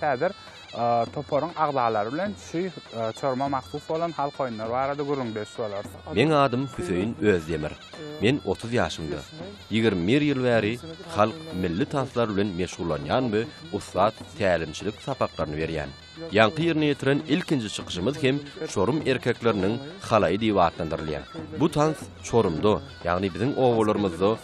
Häzir toparyň agzalary bilen şu çoruma mahsus bolan halk oýunlary barada gürrüňdeş bolarys. Meň adym Hüseýin Özdemir. Men otuz ýaşymda. Ýigrimi bir ýyl bäri halk milli tanslar bilen meşgullanýan we ussat tälimçilik sapaklaryny berýän. Ýaňky ýerine ýetiren ilkinji çykyşymyz hem çorum erkekleriniň halaýy diýip atlandyrylýar. Bu tans Çorumda, ýagny biziň obalarymyzda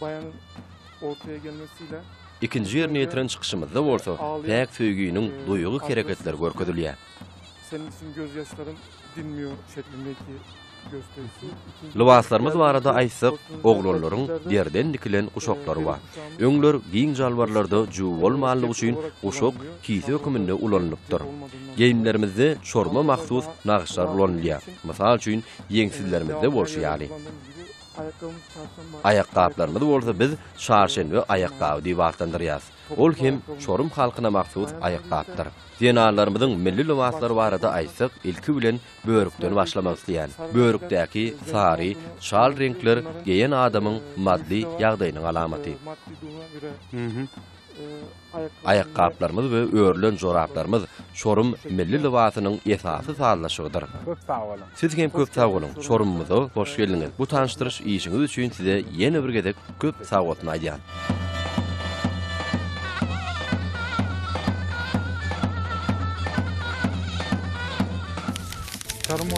baýanyň ortaya gelmesi ile Ikinji ýerine ýetiren çykyşymyzda bolsa päk söýginiň duýgy hereketleri görkezilýär. Senin için gözyaşlarım dinmiyor şeklindeki Lybaslarymyz barada aýtsak, oglanlaryň derden dikilen guşaklary bar. Öňler giň jalbarlarda juw bolmanlygy üçin guşak kise höküminde ulanylypdyr. Geýimlerimizde çorma mahsus nagyşlar ulanylýar. Mysal üçin, ýeňsizlerimizde bolşy ýaly. Aýakgaplarymyz bolsa biz Çarşenbe aýakgaby diýip atlandyrýarys. Ol hem çorum halkyna mahsus aýakgapdyr. Zenanlarymyzyň milli lybaslary barada aýtsak, ilki bilen börükden başlamak isleýän. Börükdäki sary, çal reňkler geýen adamyň maddy ýagdaýynyň alamaty. Aýakgaplarymyz we örülen joraplarymyz Çorum milli lybasynyň esasy sazlaşygydyr. Köp sag boluň. Siz hem köp sag boluň, Çorumymyza hoş geldiňiz. Bu tanyşdyryş işiňiz üçin size ýene bir gezek köp sag bolsun aýdýan.